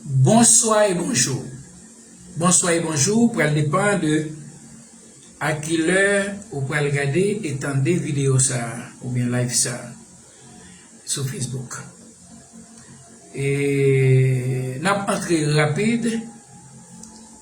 Bonswa e bonjou Bonswa e bonjou pral depan de a ki lè ou pral gade e tande videyo sa a oubyen live sa a sou Facebook e n ap antre rapid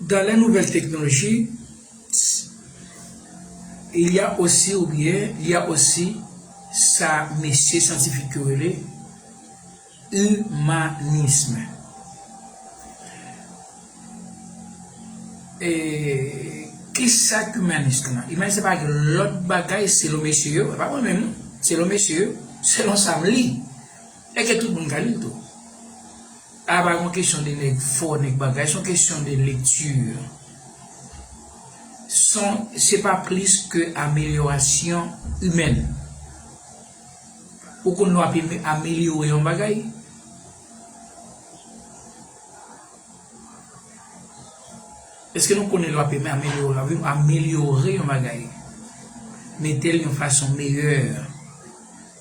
Dans les nouvelles technologies, il y a aussi ou byen li a osi sa mesye syantifik yo rele imanism. E ki sa k imanist lan? Imanist se pa gen lòt bagay selon mesye yo, e pa mwen menm non, selon mesye yo, selon sa m li. Eske tout moun ka lil tou? A pa yon kesyon de nèg fò nèg bagay son kesyon de lecture son se pa plis ke amelyorasyon imèn ou konn lè wap amelyore yon bagay eske nou konnen lè wap amelyore yon bagay metel yon fason meyè.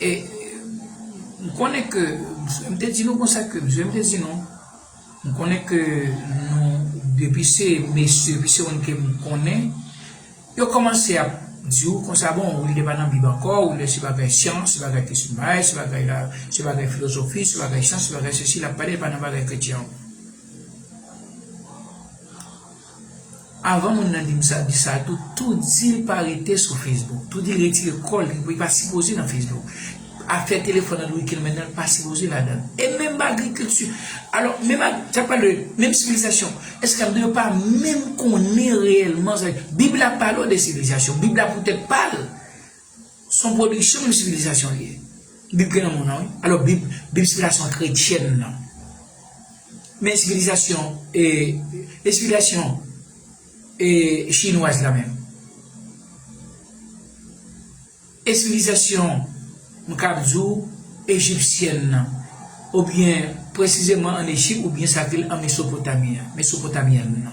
E m konnen ke, m te di nou konsa ke, msye m te di nou, m konnen ke nou, depi se mesye, depi se moun ke m konnen, yo kòmanse ap di ou konsa, bon, ou li pa nan bib ankò, ou li se bagay syans, se bagay kesyon bagay, se bagay la, se bagay filozofi, se bagay syans, se bagay sesi, l ap pale, l pa nan bagay kretyen. Avan moun nan dim sa di sa tou tou dil pa rete sou Facebook tou dil retire kòl li pa sipoze nan Facebook afè telefòn android kel mennen pa sipoze ladann e menm agrikilti alò menm sa pale de menm sivilizasyon eske ap di yo pa menm konnen reyèlman sa bib la pale de sivilizasyon bib la poutèt pal Son pwodiksyon yon sivilizasyon li ye. Bib gen lanmou nan wi. Alò bib, bib se lason kretyèn nan. Men sivilizasyon e e sivilizasyon e chinwaz la menm. E sivilizasyon m kab di w ejipsyèn nan oubyen presizeman an Ejip oubyen sa k rele an Mesopotami an, Mesopotamian nan.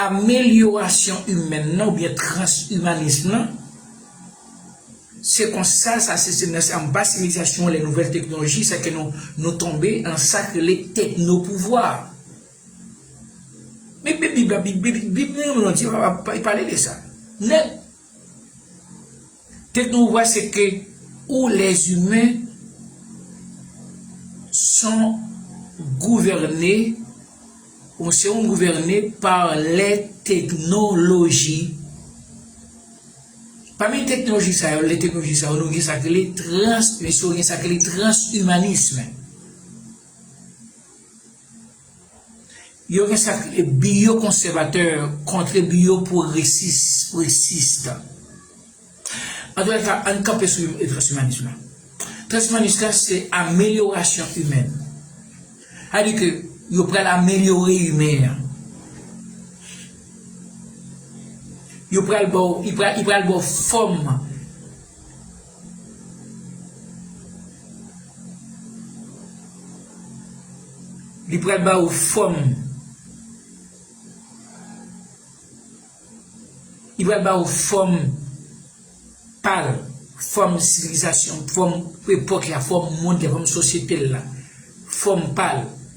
Amelyorasyon imèn nan oubyen transimanism nan, se konsa sa se se nan se anba sivilizasyon lè nouvèl teknoloji sa ke nou nou tonbe nan sa k rele teknopouvwa. Men bib la bib bib bib nou yo nou an di yo pa pa pale de sa. Nèg Tèt nou ouvè se ke ou les humains son gouvène ou se yon gouvène pa lè teknoloji. Pami teknoloji sa yo, lè teknoloji sa yo nou gen sa ki rele trans, men si yo gen sa ki rele trans humanisme. Yo gen sa k rele biyo konsèvatè kontre biyo pwogresis, pwogresis. Antoulèka, ann kanpe sou transwimanis la. Transwimanis la se amelyorasyon imèn. Sa vle di ke yo pral amelyore imen an. Yo pral ba w, li pral ba w fòm. Li pral ba ou fòm. Li pral ba ou fòm pa l, fòm sivilizasyon, fòm epòk la, fòm mond la, fòm sosyete l la, fòm pa l.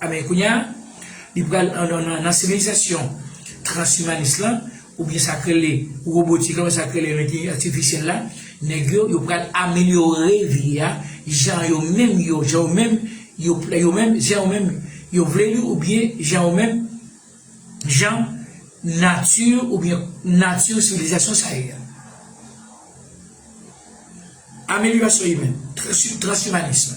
Amen kounya li pral nan sivilizasyon transimanis lan oubyen sak rele robotik lan oubyen sak rele lentèlijans atifisyèl la nèg yo yo pral amelyore vi a jan yo menm yo jan yo menm yo yo menm jan yo menm yo vle li oubyen jan yo menm jan nati oubyen nati sivilizasyon sa ye a. Amelyorasyon imèn, transimanism.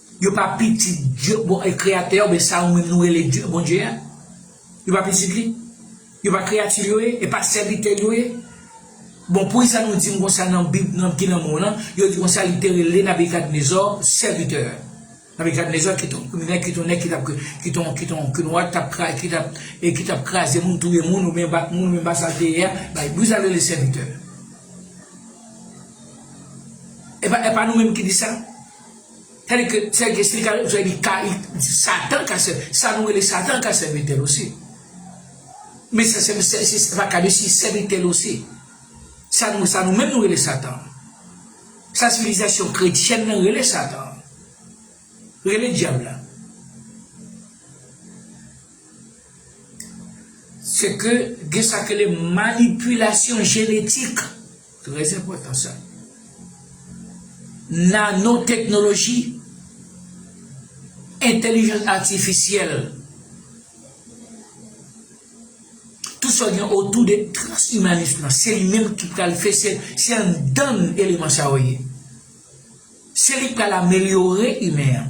Yo pa pitit Dye, bon, kreyatè oubyen sa ou menm nou rele Dye, Bondye a. Yo pa pitit li. Yo pa kreyati l yo ye, e pa sèvitè l yo ye. Bon, poukisa nou di m konsa nan Bib nan ki nan men w lan, yo di konsa li te rele Nabikadnezò sèvitè. Nabikadnezò ki t on kriminèl, ki t on nèg ki t ap k, ki t on, ki t on kinois ki t ap kra, ki t ap, e ki t ap kraze moun, touye moun oubyen bat moun oubyen bat sa l te ye a, bay, poukisa l rele l sèvitè? E pa, e pa nou menm ki di sa? Tadi ke sè Guesly ka jwenn sè ka li di satan ka sè sa nou rele satan ka sèvitèl osi men sa sèm sè se pa ka desi sèvitèl osi sa nou sa nou menm nou rele satan sa sivilizasyon kretyèn nan rele satan rele dyab la sè ke gen sa k rele manipilasyon jenetik. Très enpòtan sa. Nanoteknoloji, entèlijans atifisyèl, tout sa gen otou de transimanis lan, se li menm ki pral fè se, se anndan n eleman sa yo ye. Se li k pral amelyore imen an.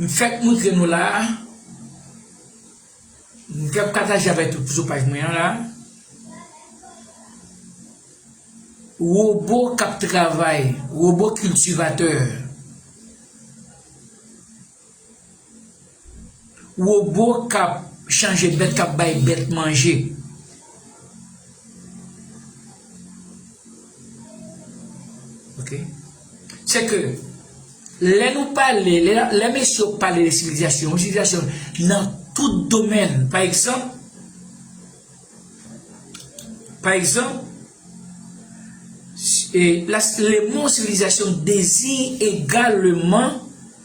M fèk moutre nou la a, m fèk pataje avèk nou sou paj mwen an la a, wobo k ap travay, wobo kiltivatè. Wobo k ap chanje bèt k ap bay bèt manje. Se ke, lè nou pale, lè mesye yo pale de sivilizasyon, yon sivilizasyon nan tout domèn. Pa egzanp, pa egzanp, le mo sivilizasyon deziy egaleman.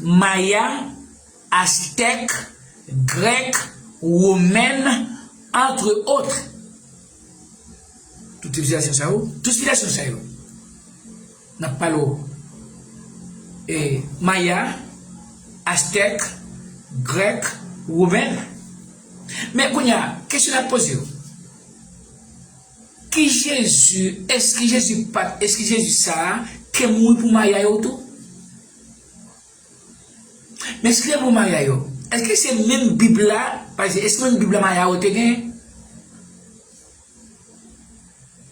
Maya, Aztèk, Grèk, Womèn, antre otre. Tout sivilizasyon sa yo, tout sivilizasyon sa yo, n ap pale w, e Maya, Aztèk, Grèk, Womèn. Men kounye a, kesyon n ap poze w. Ki jezi es ki jezi pat es ki jezi sa ke mouri pou maya yo tou men si te pou maya yo es ki se menm bib la pase es menm bib la maya yo te gen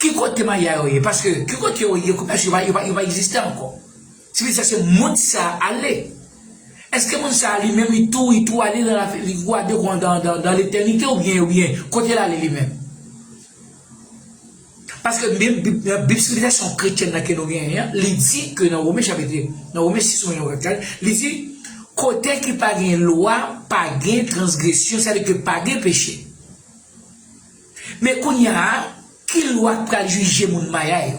ki kote maya yo ye paske ki kote yo ye kounya si yo pa yo pa yo pa egziste ankò. Tifi sa se mond sa ale. Eske moun sa li menm li tou li tou ale nan lavi li gwa de gwan dan dan dan letènite ou byen ou byen kote lale li menm. Paske menm bib nan bib sivilizasyon kretyèn nan ke nou genyen an li di ke nan Women chapitre nan Women 6 Women 24 li di kote ki pa gen lwa pa gen transgresyon sa vle di ke pa gen peche. Men kounya a ki lwa k pral jije moun maya yo?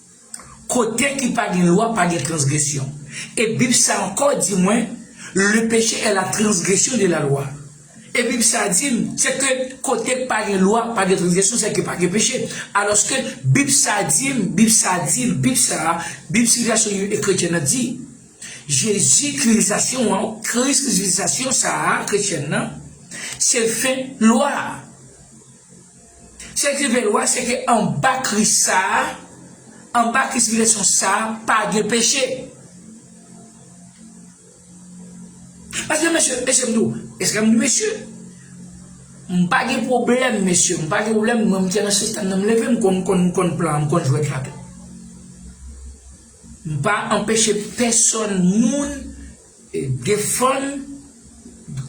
Kote ki pa gen lwa pa gen transgresyon. E bib sa ankò di mwen le péché est la transgression de la loi. E bib sa dim se ke kote k pa gen lwa pa gen transgresyon se ke pa gen peche. Alòske bib sa dim, bib sa dim, bib sa a, bib sivilizasyon yo e kretyen nan di. Jezi krilizasyon an, kris krizilizasyon sa a, kretyèn nan, se fen lwa a. Sak rive lwa a se ke anba Kris sa a, anba Kris Rezireksyon sa a pa gen peche. Paske mesye, mesye m di w, eske m di mesye? M pa gen pwoblèm mesye, m pa gen pwoblèm mwen m te nan sistèm nan m leve m konn konn m konn plan an, m konn jwèt la tou. M pa anpeche pèsòn moun Defann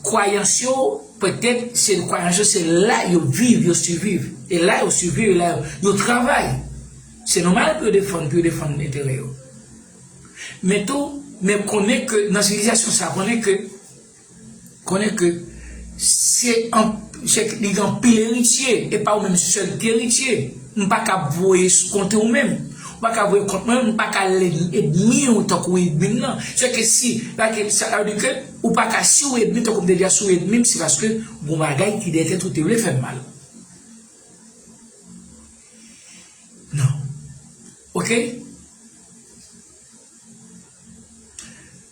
kwayans yo, pètèt se kwayans yo se la yo viv, yo siviv. E la yo siviv, e la yo travay. Se nòmal pou yo defann, pou yo defann enterè yo. Men tou, men konnen ke nan sivilizasyon sa, konnen ke. Konnen ke se li gen anpil eritye, e pa ou menm sèl ki eritye. M pa ka voye konte ou menm. Ou pa ka voye kont mwen menm, m pa ka edmi ou tankou edmi m nan. Se ke si, sa vle di ke ou pa ka si ou edmi tankou m te di a, si ou edmi m se paske gon bagay ki dèyè tèt ou te vle fè m mal. Non. Ok?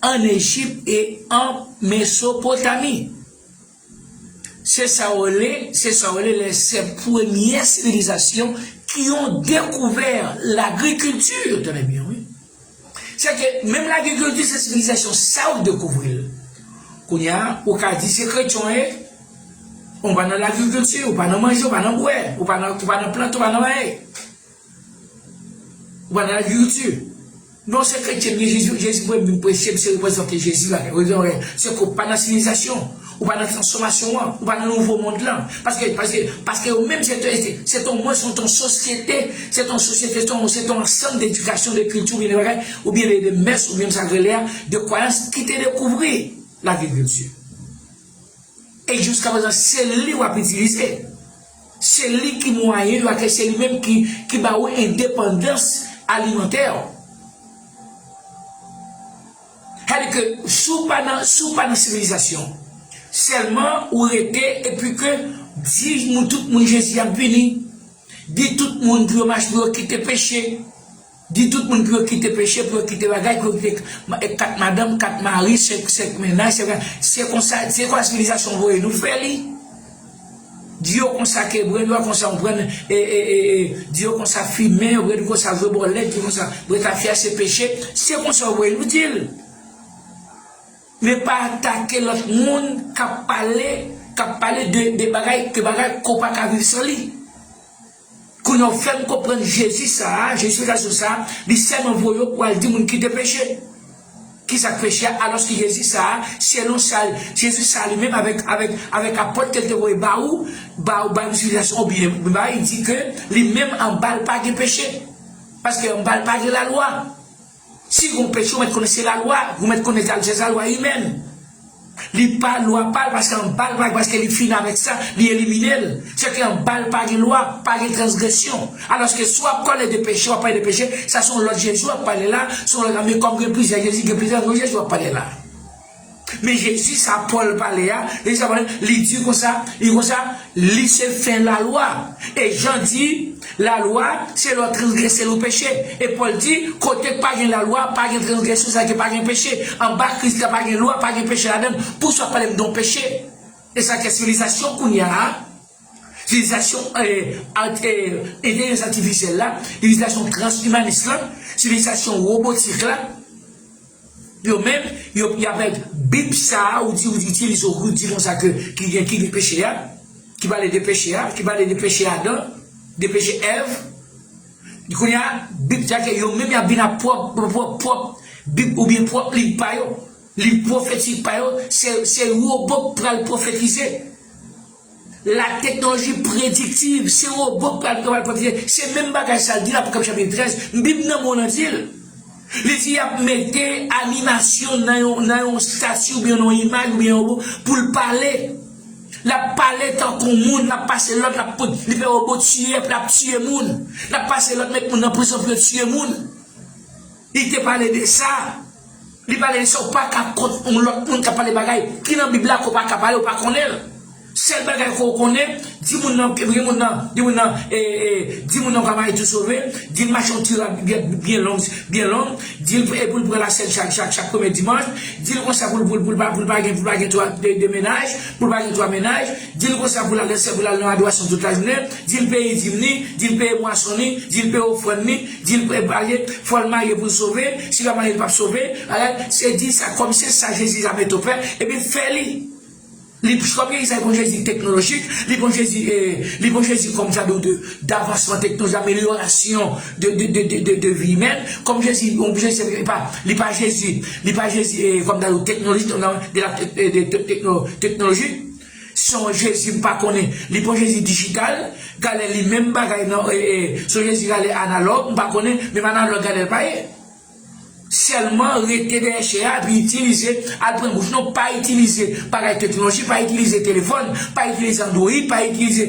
ann Ejip e an Mesopotami. Se sa yo rele, se sa yo rele lè se premye sivilizasyon ki yon dekouvè lagrikilti, tande byen wi. Se ke menm lagrikilti se sivilizasyon sa yo k dekouvri l. Kounye a, ou ka di se kretyon w ye, ou pa nan lagrikilti, ou pa nan manje, ou pa nan bwè, ou pa nan, ou pa nan plante, ou pa nan anyen. Ou pa nan agrikilti? Non se kretyen m ye jezi jezi voyem vin preche m se reprezante jezi la ou gen oreil se ke ou pa nan sivilizasyon ou pa nan transfòmasyon an ou pa nan nouvo mond lan paske paske paske ou menm se te se te mwen se te sosyete se te sosyete se te ansanm de dikasyon de kilti oubyen de bagay oubyen de de mès oubyen sa rele a de kwayans ki te dekouvri lagrikilti e jiskaprezan se li wap itilize Se li ki mwayen yo ak e se li menm ki ki ba ou endepandans alimantè ou. Sa vle di ke si ou pa nan si ou pa nan sivilizasyon, sèlman ou rete epi ke di moun tout moun Jezi ap vini, di tout moun pou yo mach pou yo kite peche. Di tout moun pou yo kite peche, pou yo kite bagay, pou yo kite 4 madanm, 4 mari, 5 mennaj, 5 bagay. Se konsa, se konsa sivilizasyon voye nou fè li. Di yo konsa ke bren dwa konsa yon pran, e, e, e, e, di yo konsa fimen, yo bren konsa vwe bòlèt, di yo konsa bwe tafya se peche. Se konsa yo voye nou di l. Men pa atake lòt moun k ap pale, k ap pale de bagay, de bagay ke w pa ka viv san li. Kounya ou fèm konprann Jezi sa a, Justification sa a, li sèlman voye yo pou al di moun kite peche. Kisak peche a alòske Jezi sa a, selon sa Jezi sa a li menm avèk avèk avèk apòt ke l te voye ba ou, ba ou ba nou sivilizasyon ou byen bay di ke li menm anba l pa gen peche. Paske anba l pa gen lalwa. Si gon peche ou mèt konnen se lalwa, ou mèt konnen sa se lalwa li menm. Li pa lwa pa l paske anba l pa gen paske li fini avèk sa, li elimine l. Se ke anba l pa gen lwa, pa gen transgresyon. Alòske si w ap pale de peche, w ap pale de peche, sa se yon lòt Jezi w ap pale la, se yon lòt ame kòm gen plizyè Jezi, gen plizyè yon Jezi w ap pale la. Men jezi sa Paul pale a jezi sa Paul li di konsa li konsa li se fen lalwa e Jean di lalwa se lè w transgrese l ou peche e Paul di kote k pa gen lalwa pa gen transgresyon sa vle di pa gen peche anba kris la pa gen lwa pa gen peche ladan l pou sa w pale m de yon peche e sa k fè sivilizasyon kounya a sivilizasyon entèlijans atifisyèl la sivilizasyon transimanis la sivilizasyon robotik la. Yo menm yo pi avèg bib sa a ou di ou di itilize ou di konsa ke ki gen ki gen peche a ki pale de peche a ki pale de peche Adan de peche Èv kounye a bib sa ke yo menm y ap vin ak pwòp pwòp pwòp bib oubyen pwòp liv pa yo liv pwofetik pa yo se se yo bòk pral pwofetize. La teknoloji prediktiv, se robo k pral pran pral pran, se menm bagay sa l di nan Apokalips chapit 13, m bib nan mwen w nan di l. Li di y ap mete animasyon nan yon nan yon stati oubyen nan yon imaj oubyen yon robo pou l pale. L ap pale tankou moun, l ap pase lòd, l ap pot, li fè robo tiye, aprè l ap tiye moun. L ap pase lòd met moun nan prizon pou yo tiye moun. Li te pale de sa. Li pale de sa ou pa ka kont yon lòt moun k ap pale bagay ki nan Bib la ke w pa ka pale, ou pa konnen l. Sèl bagay ke w konnen, di moun nan, di moun nan, di moun nan, e, e, di moun nan ou ka marye tou sove, di l mache yon ti rad byen, byen long, byen long, di l pou l pran lasèn chak, chak, chak premye dimanch, di l konsa pou l, pou l, pou l pa, pou l pa gen, pou l pa gen twa, de, de mennaj, pou l pa gen twa mennaj, di l konsa pou l al nan syèl, pou l al nan adorasyon tout lajounen, di l peye dim li, di l peye bwason li, di l peye ofrann li, Dil pral pale fòl marye poul sove si pa marye li pap sove alèt se di sa kòm se sa jezi zame to fè epi fè li li kòm jezi sa li pran jezi teknolojik li pran jezi li pran jezi kòm sa do de davansman tekno zamelyorasyon de de de de de vi imèn kòm jezi yon jezi se pa li pa jezi li pa jezi kòm sa do teknolojik de la de de tekno teknolojik. Son jezi m pa konnen li pran jezi digital gale li menm bagay nan son jezi gale analog m pa konnen menm analog gale l pa ye selman rete dèyè chè a epi itilize al pran bouch nou pa itilize bagay teknoloji pa itilize telefòn pa itilize android pa itilize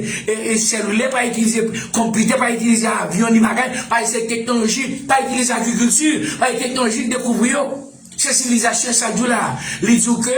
selilè pa itilize konpitè pa itilize avyon ni bagay pa itilize teknoloji pa itilize agrikilti pa itilize teknoloji dekouvri yo se sivilizasyon sa k di w la li di w ke.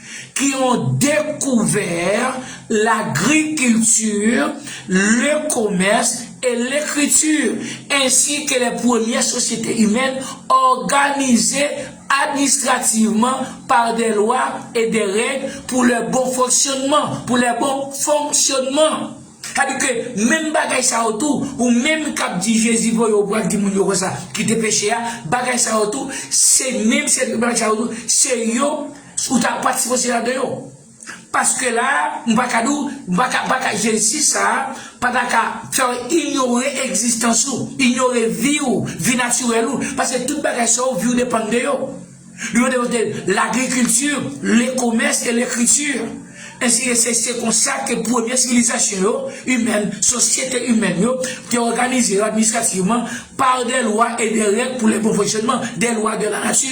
ki yon dekouvè lagrikilti, le komès e lekriti, ensi ke le premye sosyete imèn òganize administrativman pa de lwa e de règ pou le bon fonksyonnman, pou le bon fonksyonnman. Sa di ke menm bagay sa yo tou, ou menm k ap di Jezi voye ou pral di moun yo konsa, kite peche a, bagay sa yo tou, se menm sèvi bagay sa yo tou, se yo. Ou ta pat sipoze la deyò. Paske la a, m pa ka di w, m pa ka, m pa ka Jensis sa a pa ta ka fè w inyore egzistans ou, inyore vi ou, vi natirèl ou. Paske tout bagay sa yo, vi w depann de yo. Li mande yo de lagrikilti, lekomès e lekriti. Ensi de se, se konsa ke premye sivilizasyon yo, imèn, sosyete imèn yo, te òganize yo administrativman, pa de lwa e de règ pou le bon fonksyònman, de lwa de la nati.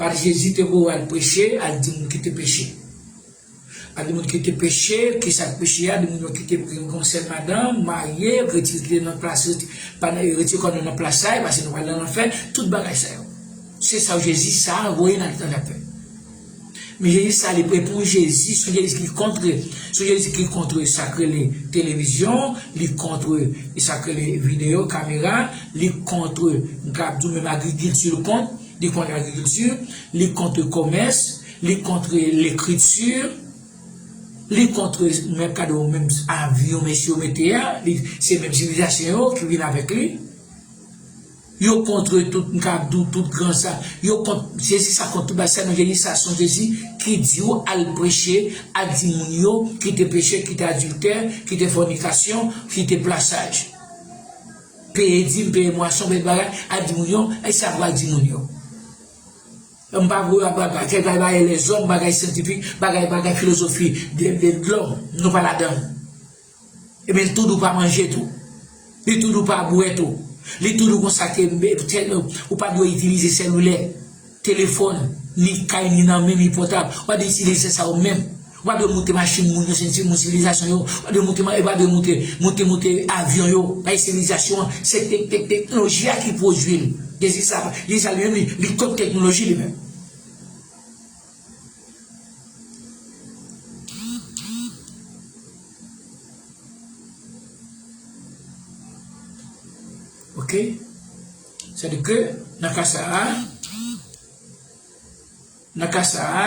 Pati Jezi te voye al preche, al di moun kite peche. Al di moun kite peche, kisa k peche a, di moun yo kite gen yon sèl madanm, marye, retire kite nan plas, retire kò nou nan plas sa yo pase nou pral nan lanfè, tout bagay sa yo. Se sa Jezi sa a voye n al tande ap fè. Men Jezi sa a li pre pou Jezi, son Jezi ki kontre, son Jezi ki kontre sa k rele televizyon, li kontre sa k rele videyo, kamera, li kontre m kab di w menm agrikilti l kont. li kont agrikilti, li kont komès, li kont lekriti, li kont menm gade yon menm avyon mesye yo mete a, se menm sivilizasyon yo ki vin avèk li, yo kont tout m kab di w tout gran sa, yo kont Jezi sa kont tout bagay sèlman Jezi sa son Jezi ki di w al preche, al di moun yo kite peche, kite adiltè, kite fònikasyon, kite plasaj. Peye di m, peye mwa se yon bèl bagay, al di moun yo, e sa pral di moun yo. M pa gou ak bagay, kèk bagay bagay lèzòm, bagay syantifik, bagay bagay filozofi de de lòm, nou pa ladan l. Ebyen l tou dou pa manje tou. Li tou dou pa bwè tou. Li tou dou konsa ke ou pa dwe itilize selilè. Telefòn, ni kay ni nan men, ni pòtab. Ou pa dwe itilize sa ou menm. Ou pa dwe moute machin moun yo, se yon sèl sivilizasyon yo. Ou pa dwe moute ma, ou pa dwe moute, moute, moute avyon yo, bay sivilizasyon an. Se tek, tek, teknoloji a ki pwodui l. Dezi sa, li sa li menm li, li kont teknoloji li menm. Ok. Sètadi ke nan ka sa a, nan ka sa a,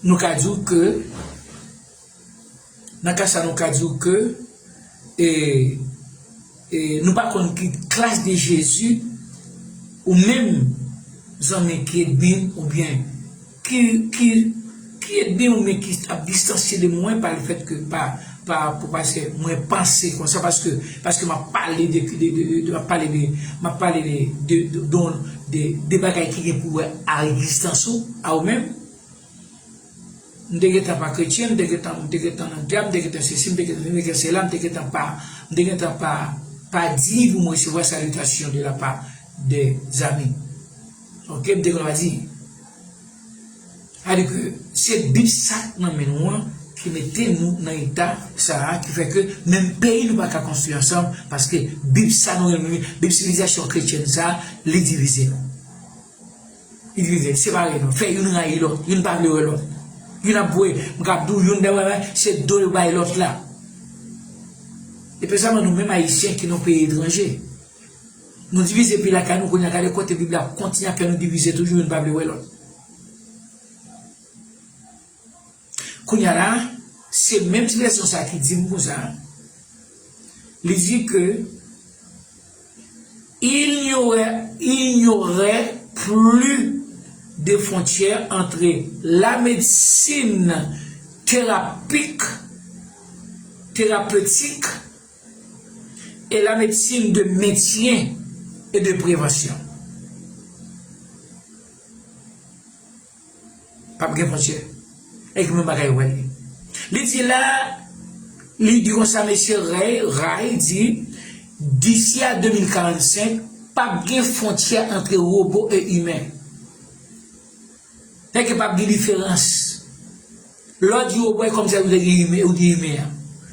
nou ka di ou ke, nan ka sa a nou ka di ou ke, e, e, nou pa konn ki klas de Jezi ou menm zanmi K-edmin oubyen. Ki ede ou men ki ap distansye de mwen pa le fèt ke pa pa pou paske mwen panse konsa paske paske m'ap pale de de m'ap pale de m'ap pale de de don de de bagay ki gen pou wè a egzistans ou a ou menm m te gentan pa kretyen m te gentan m te gentan nan dyab m te gentan sesi m te gentan m te gentan sela m te gentan pa m te gentan pa pa diy pou m resevwa salitasyon de la pa de zanmi. Yon klèb de lwazi. Sa di ke se bit sa k nan men nou an ki mete nou nan eta sa a ki fè ke menm peyi nou pa ka konstwi ansanm paske bit sa nou renmen yo, bit sivilizasyon kretyèn sa a li divize nou. Li divize, li separe nou, fè youn rayi lòt, youn pa vle wè lòt. Youn ap voye, m kab di w youn dè bagay se do l bay lòt la. Epesyaman nou menm ayisyen ki nan peyi etranje. Nou divize pi lakay nou kounya gade kote bib la ap kontinye ap fè nou divize toujou youn pa vle wè lòt kounya la se menm ti vèsyon sa ki dim konsa li di ke il n'y aurait il n'y aurait plus de frontière entre la médecine thérapeutique thérapeutique e la medsin de mentyen e de prevansyon pap gen fontyè e ki menm bagay yo pral ye li di la li di konsa mesye rey ray di disi a 2045 pap gen fontyè antre robo e imen e ke pap gen diferans Lè w di robot e kòmsi ou te di imen ou di imen an.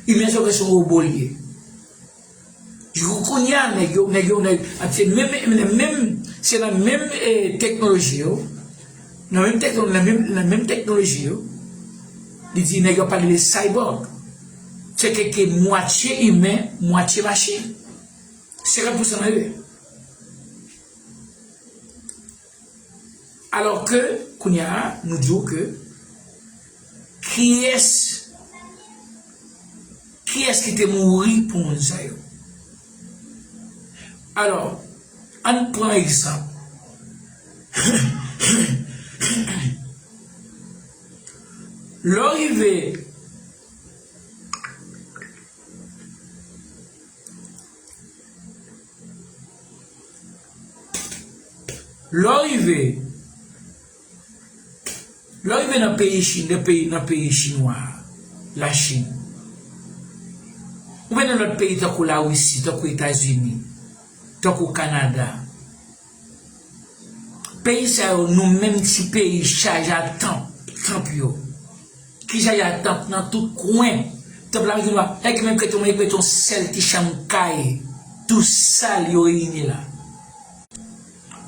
Imen se vèsyon robot li ye. Jou kounye a nèg yo, nèg yo nèg ak se menm nan menm se nan menm e teknoloji yo, nan menm tekno nan menm nan menm teknoloji yo, li di nèg yo ap pale de cyborg. Se kèk ki mwatye imen, mwatye machin. 50 pousan nan yo. Alò ke, kounye a, nou di w ke, kiyès, kiyès ki te mouri pou moun sa yo? Alò, ann pran egzanp, lè w rive, Lè w rive Lè w rive nan peyi Chin nan peyi nan peyi chinwa a Lachin oubyen nan lòt peyi tankou Lawisi tankou Etazini tankou Kanada Peyi sa yo nou menm ti peyi chaje ak tanp, tanp yo. Ki chaje ak tanp nan tout kwen. Tanp la vin wè e ki menm kèt yo mwen kèt yon sèl ti chanm kay tou sal yo reyini la.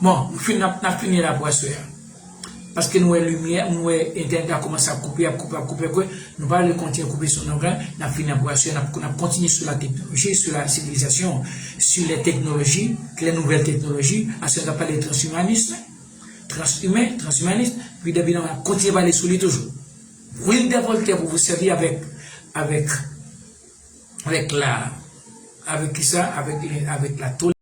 Bon, m fin nap fini la pou aswè a. Paske nou wè limyè, nou wè entènèt la kòmanse ap koupe, ap koupe, ap koupe, ap koupe, nou pa vle kontinye koupe sou nonm lan, n ap fini ap brase, n ap kontinye sou la teknoloji, sou la sivilizasyon, sou lè teknoloji, lè nouvèl teknoloji, aswè n ap pale transimanism, transimen, transimanism, epi depi nan ap kontinye pale sou li toujou. Wi de Voltè pou vou sèvi avèk, avèk, avèk la, avèk kisa, avèk, avèk la tole.